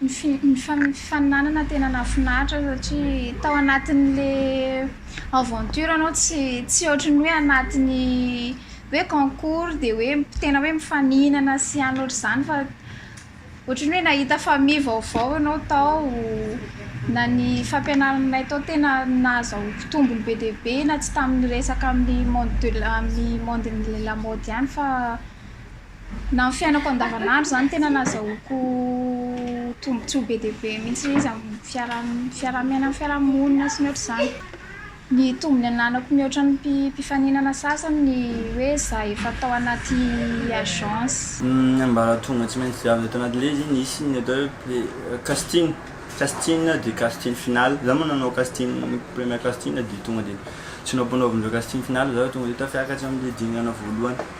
Nifaninanana tena nahafinaritra satria tao anatin'le aventure anao tsy tsy ohatry ny hoe anatin'ny hoe concours dia hoe tena hoe mifaninana sy any ohatr'izany fa ohatry ny hoe nahita famille vaovao ianao tao na ny fampianaranay tao tena nahazahoako tombony be dia be na tsy tamin'ny resaka amin'ny monde de la amin'ny monde-n'ny lamaody ihany fa na ny fiainako andavanandro izany tena nazahoako tombontsoa be dia be mihitsy ilay izy amin'ny fiaraha-miaina amin'ny fiaraha-monina sy ny ohatr'izany. Ny tombony ananako mihoatra ny mpifaninana sasany ny hoe za efa tao anaty agence. Ny ambaratonga tsy maintsy diavina tao anatin'ilay izy nisy ny atao hoe casting, casting dia casting final, za moa nanao casting premier casting dia tonga dia tsy naompanaovin'ireo casting final za fa tonga dia tafakatra amin'ny dingana voalohany.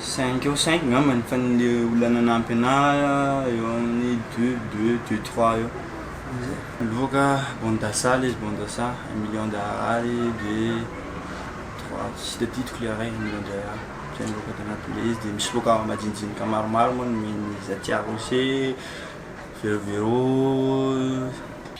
Cinq eo cinq ngambany fa ny olona nanampy anahy eo amin'ny deux deux deux trois eo. Miloaka bande d'assa ilay izy bande d'assa un million d'arary de trois tsy tadidiko ilay iray un million d'arary izay no loaka tanaty ilay izy dia misy loaka majinijinika maromaro moa ny zatia rocher, vero vero,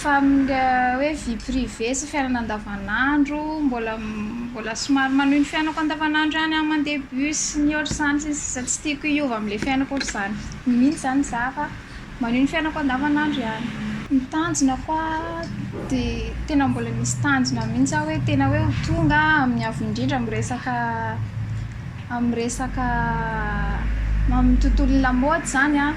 Fa amin'ilay hoe vie privée sy fiainana andavanandro, mbola mbola somary manohy ny fiainako andavanandro ihany aho mandeha bus sy ny ohatr'izany sy ny sisa tsy tiako hiova amin'ilay fiainako ohatr'izany mihitsy izany izaho fa manohy ny fiainako andavanandro ihany. Ny tanjona ko dia tena mbola misy tanjona mihitsy aho hoe tena hoe ho tonga amin'ny avo indrindra miresaka amin'ny resaka amin'ny tontolon'ny lamaody izany an,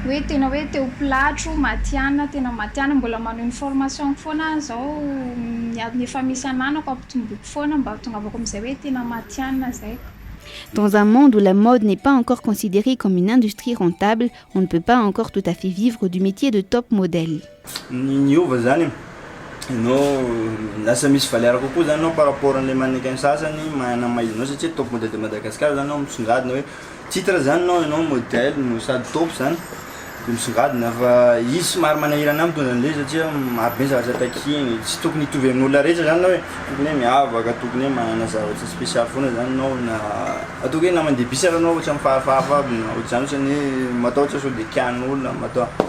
hoe tena hoe te ho pilatro matihanina, tena matihanina, mbola manao ny formation-ko foana aho izao, ny adiny efa misy ananako ampitomboiko foana mba hahatongavako amin'izay hoe tena matihanina izay. Dans un monde où la mode n'est pas encore considérée comme une industrie rentable, on ne peut pas encore tout à fait vivre du métier de top model. Ny niova zany no lasa misy valeur kokoa zany anao par rapport anle mannequin sasany manana maha izy anao satria top model de Madagascar zany anao misongadina hoe titre zany anao enao model no sady top zany de misongadina fa izy somary manahirana ahy mitondra anle izy satria maro be ny zavatra takiany e tsy tokony hitovy amin'olona rehetra zany anao e tokony hoe miavaka tokony hoe manana zavatra special foana zany anao na ataoko hoe na mandeha bus ary anao ohatran'ny fahafahafa aby na ohatr'izany ohatran'ny hoe matahotra sao de kianin'olona mataho-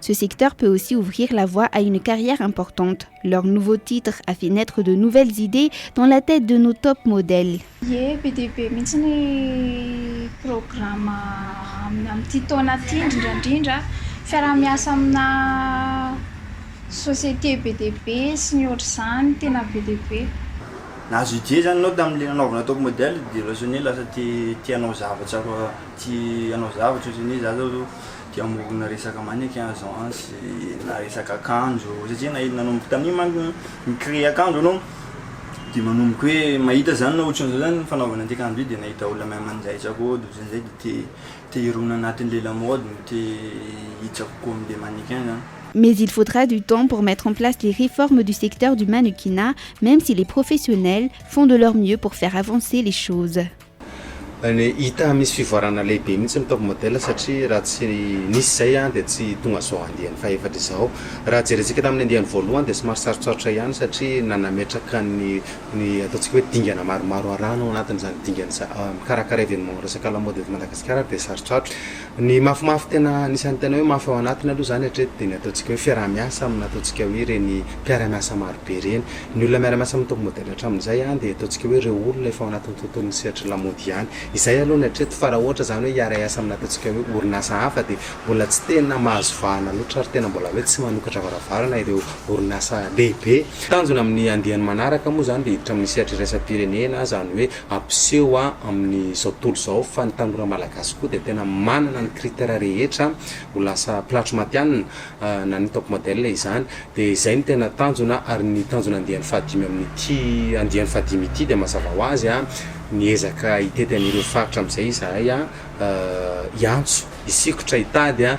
Ce secteur peut aussi ouvrir la voie à une carrière importante. Leur nouveau titre a fait naître de nouvelles idées dans la tête de nos top modèles. Ie, be dia be mihitsy ny programa amin'ity taona ity, indrindra indrindra fiaraha-miasa amina société be dia be sy ny ohatr'izany, tena be dia be. Nahazo idée izany ianao tamin'ilay nanaovana top modèle dia lasa hoe lasa te te hanao zavatra tia hanao zavatra ohatrany hoe za zao Te hamorona resaka mannequin aho zao an, sy na resaka akanjo, satria na nanomboka tamin'iny manko ny mi-créer akanjo aloha de manomboka hoe mahita zany na otran'izao zany ny fanaovana an'ity akanjo ity de nahita olona même an'izay zah koa de otran'izay de te te hirona anatin'le lamode no te hitsako koa am'le mannequin zany. Mais il faudra du temps pour mettre en place les réformes du secteur du mannequinat, même si les professionnels font de leur mieux pour faire avancer les choses. Hita misy fivoarana lehibe mihitsy ny top model satria raha tsy nisy izay dia tsy tonga izao andiany fahefatra izao. Raha jerentsika tamin'ny andiany voalohany dia somary sarotsarotra ihany satria nanametraka ny ny ataontsika hoe dingana maromaro arahana ao anatin'izany dingana izany. Mikarakara événement resaka lamaody eto Madagasikara dia sarotsarotra. Ny mafimafy tena anisan'ny tena hoe mafy ao anatiny aloha izany hatreto dia ny ataontsika hoe fiaraha-miasa amin'ny ataontsika hoe ireny mpiara-miasa marobe ireny. Ny olona miara-miasa amin'ny Top Model hatramin'izay dia ataontsika hoe ireo olona efa ao anatin'ny tontolon'ny sehatry lamaody ihany. Izay aloha ny hatreto fa raha ohatra izany hoe hiara-hiasa amin'ny ataontsika hoe orinasa hafa dia mbola tsy tena mahazo vahana loatra ary tena mbola hoe tsy manokatra varavarana ireo orinasa lehibe. Tanjona amin'ny andiany manaraka moa izany dia hiditra amin'ny sehatra iraisam-pirenena izany hoe Ampiseho amin'izao tontolo izao fa ny tanora malagasy koa dia tena manana ny critère rehetra ho lasa mpilatro matihanina, na ny top model izany. Dia izay no tena tanjona ary ny tanjona andiany fahadimy amin'ity andiany fahadimy ity dia mazava ho azy miezaka hitety an'ireo faritra amin'izay izahay hiantso, hisikotra, hitady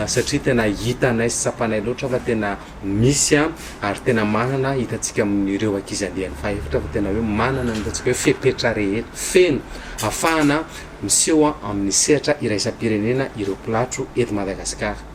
satria tena hitanay sy tsapanay loatra fa tena Misy an, ary tena manana, hitantsika amin'ireo ankizy andiany fahaefatra fa tena hoe manana ny ataontsika hoe fepetra rehetra, feno afahana miseho amin'ny sehatra iraisam-pirenena ireo mpilatro eto Madagasikara.